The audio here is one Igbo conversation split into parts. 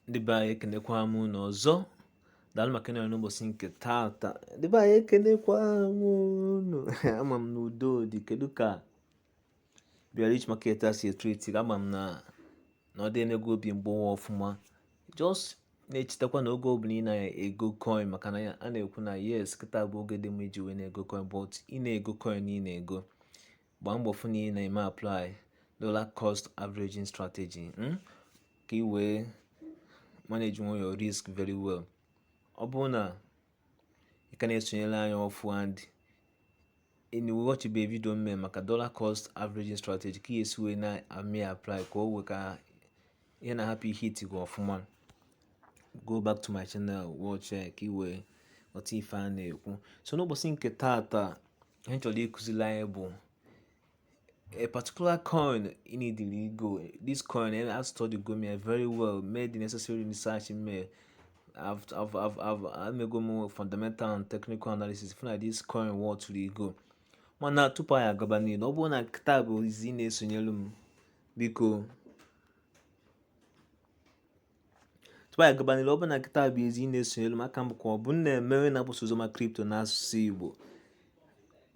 ndị be anyị ekenekwa m unu ọzọ daalụ maka ịnọrọ n'ụbọchị nke taata ndị be anyị ekenekwa m unu ama m na udo dị kedu ka bearish market a si etreat ama m na na ọ dị emego obi mgbawa ọfụma just na-echetakwa na oge ọbụla ị na-ego coin maka na a na-ekwu na yes kịta bụ oge dị mma iji wee na-ego coin but ị na-ego coin ị na-ego gbaa mbọ fụ na ị na-eme apply dollar cost averaging strategy hmm? ka ị wee manage nwu your risk very well ọ bụrụ na ị ka na-esonyere anyị ọfụ and ị watchibe video m me maka dollar cost averaging strategy ka e si wee na-eme apply ka o wee ka ihe na-ahapụ ịhit gị ọfụma go back to my channel watch ka ị wee ghọta ife a na-ekwu so n'ụbọchị nke taata ihe m chọrọ ịkụziri anyị bụ a particular coin ị needili igo this coin and estudygo m ya very well mee the necessary research in me I've, I've, I've, I've, emego m fundamental and technical analysis fụ na this coin worth igo mana tupu anyị agaba n'iru ọ bụrụ na kịta bụ izi ị na-esonyelu m biko tupu anyị gaba n'ilu ọ bụrụ na kịta bụ izi ị na-esonyere m aka m bụkwa obinna emewe na-agbasa oziọma crypto n'asụsụ igbo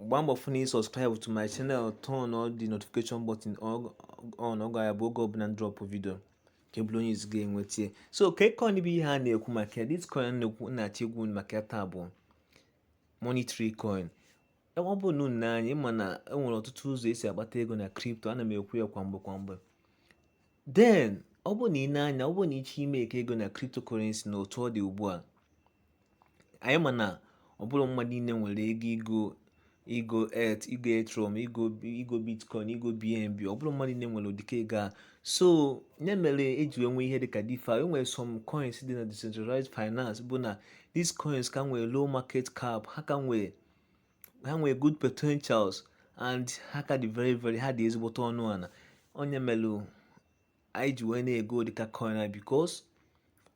gbaa mbọ fụ na ị subscribe to my channel turn on the notification button on ọ ga-abụ oge ọbụla m drop video ka ị bụrụ onye izi ga-enwete ya so kee coin bụ ihe a na-ekwu maka ya this coin na-ekwu na-achọ ikwu maka ya taa bụ money tree coin e, ọ bụ na unu anyị ma na enwere ọtụtụ ụzọ esi agbata ego na crypto ana m ekwu ya kwa mgbe kwa mgbe then ọ bụrụ na ị na-anya ọ bụrụ na ị chọ imake ego na cryptocurrency na otu ọ dị ugbu a anyị ma na ọ bụrọ mmadụ niile nwere ego igo igo et igo ethereum igo igo bitcoin igo bnb ọ bụrọ mmadụ niile nwere ụdịka ego a so nya mere eji wee nwee ihe dịka defi e nwere some coins dị na decentralized finance bụ na these coins ka nwere low market cap ha ka nwere ha nwere good potentials and ha ka dị very very ha dị ezigbote ọnụ ana ọ nya melu anyị ji wee na-ego dịka coin a because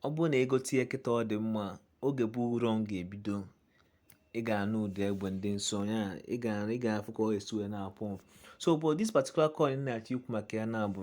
ọ bụrụ na ị gote ya kịta ọ dị mma oge bull run ga-ebido ị ga-anụ ụda egbe ndị nsọ ya ị ga-afụ ka o si wee na-apụ so but this particular coin na-achọ ikwu maka ya na-abụ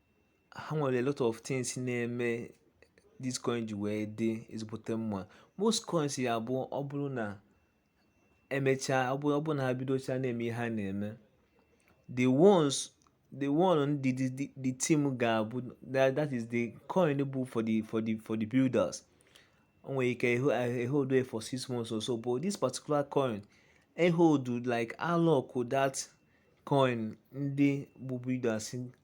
ha nwere a lot of things na-eme this coin ji wee dị ezigbote mma most coins ya bụ ọ bụrụ na emechaa ọ bụrụ ọ bụrụ na ha bidocha na-eme ihe ha na-eme the ones the one ndị the, the, the team ga-abụ that, that is the coin bụ for the for the for the builders o nwere ike ehold ya for six months or so but this particular coin ehold like alock that coin ndị bụ builders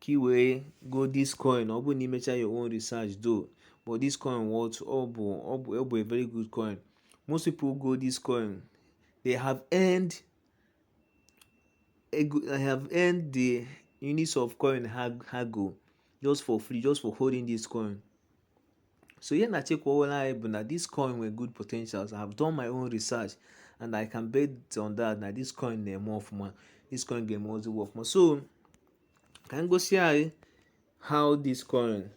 ka ị wee go this coin ọ bụrụ na ị mechaa your own research though but this coin what ọ bụ ọ bụ ọ bụ a very good coin most people go this coin they have earned they have earned the units of coin ha ha go just for free just for holding this coin So here na Chekwawala Ibu na this coin with good potentials. I have done my own research and I can bet on that na this coin na more of my this coin game also work more. So can go see eh, how this coin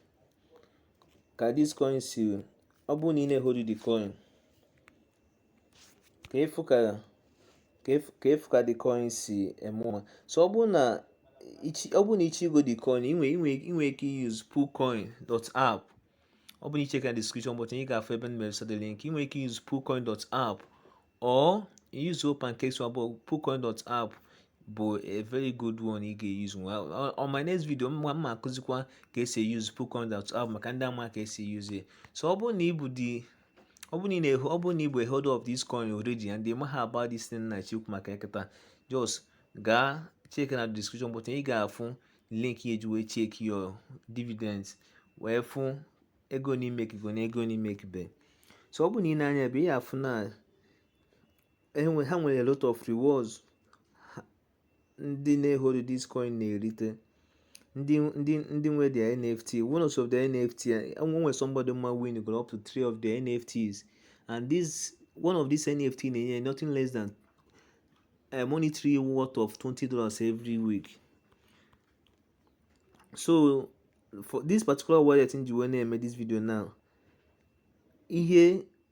can this coin see ọ bụrụ na ị na-ehori the coin ka ị fụ ka ka ị fụ ka ị fụ ka the coin si eme ọfụma so ọ bụrụ na ị chọ ọ bụrụ na ị chọ igo the coin i nwe i nwe i nwe ike use poocoin dot app ọ bụrụ na ị check na description button ị ga-afụ ebe m mere set the link i nwe ike use poocoin dot app or use pancake swap but poocoin dot app bụ a very good one ị ga-use nwa on- on my next video m ma m ma-akụzikwa ka e si use poocoin dot app maka ndị ama ka e si use ya so ọ bụrụ na ị bụ di ọ bụrụ na ị na-ehold ọ bụrụ na ị bụ a holder of this coin already and ị maghị about this thing m na-achọ ikwu maka ya kịta just gaa checkie na description button ị ga-afụ link ị ya-eji wee checkie your dividends wee fụ ego ne i makego na ego ne i makebe so ọ bụrụ na i nee anya ebe a ị ga-afụ na e ha nwere a lot of rewards ndị na-ehold this coin na-erite ndị ndị ndị nwe their nft one of the nft e nwe somebody m ma nwego up to three of the nfts and this one of these nft na-enye nothing less than a eh, monetary worth of 20 dollars every week so for this particular wallet m ji wee na-eme this video now ihe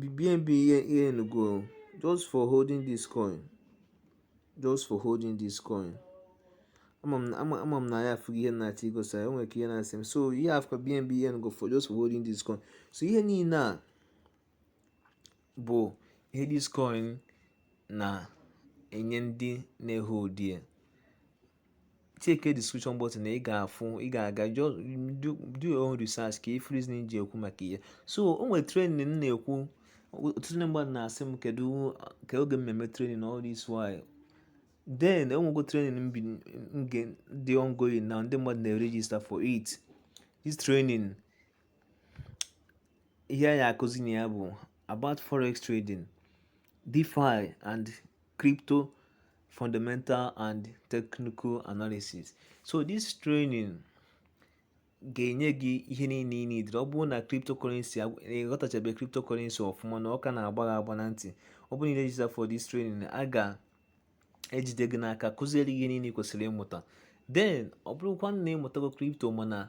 the bnb ọ earnigo just for holding this coin just for holding this coin ama m na ị ya-afụ ihe m na-achọ igosi ya nwere ike ihe na-asị m so ị ya-afụ bnb ọ earnigo for just for holding this coin so ihe niile a bụ ihe this coin na-enye ndị na-ehold ya check the description button na ị ga-afụ ị ga-aga do your own research ka ị fụ reason m ji ekwu maka ihe a so o nwere training m na-ekwu ọtụtụ ndị mmadụ na-asị m kedu ka oge m ma-eme training all this while then o nwego training m dị ongoing na ndị mmadụ na-register for it this training ihe a ya-akụzi na ya bụ about forex trading defi and crypto fundamental and technical analysis so this training ga-enye gị ihe niile ị needịrị ọ bụrụ na cryptocurrency ị ghọtachabe cryptocurrency ọfụma na ọ ka na-agba gị agba na ntị ọ bụrụ na ị register for this training a ga-ejide gị n'aka kụziere ihe niile ị kwesịrị ịmụta then ọ bụrụkwa na ị mụtago crypto mana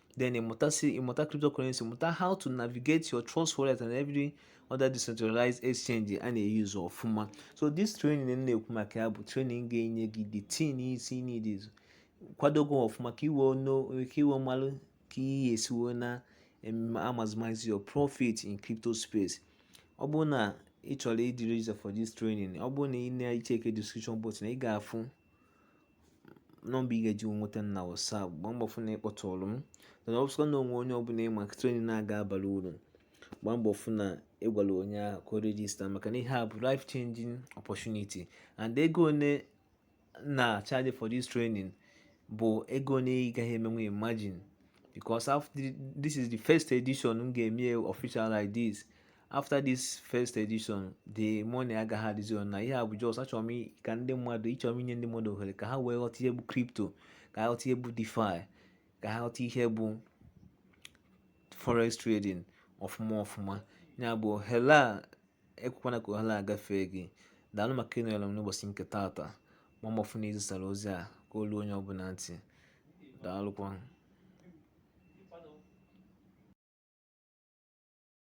then ịmụta si ịmụta cryptocurrency mụta how to navigate your trust wallet and every other decentralized exchange a na-eyuzu ọfụma so this training m na-ekwu maka ya bụ training ga-enye gị the things ị need kwado gị ọfụma ka i wee ka i wee malụ ka ị ya-esi wee na maximize your profit in crypto space ọ bụrụ na ị chọrọ ịdị register for this training ọ bụrụ na ị na-echeke description button ị ga-afụ nọmba ị ga-eji wee nweta m na WhatsApp gbaa mbọ fụ na ị kpọtụrụ m mana ọ bụsịkwa na o nwee onye ọbụla ị ma training a ga-abara uru gbaa mbọ fụ na ị gwara onye ahụ ka o register maka na ihe a bụ life changing opportunity and ego one na-achaji for this training bụ ego one ị gaghị emenwu imagine because after this is the first edition m ga-eme official like this after this first edition the money agaghị adịzi ọnụ ana ihe a bụ just achọrọ m ka ndị mmadụ achọrọ m inye ndị mmadụ ohere ka ha wee ghọta ihe bụ crypto ka ha ghọta ihe bụ DeFi ka ha ghọta ihe bụ forex trading ọfụma ọfụma ya bụ ohere a ekwekwana ka ohere a gafee gị daalụ maka ịnọrọ m n'ụbọchị nke taata ma gbaa mbọ fụ na i zisara ozi a ka o luo onye ọbụla ntị daalụkwa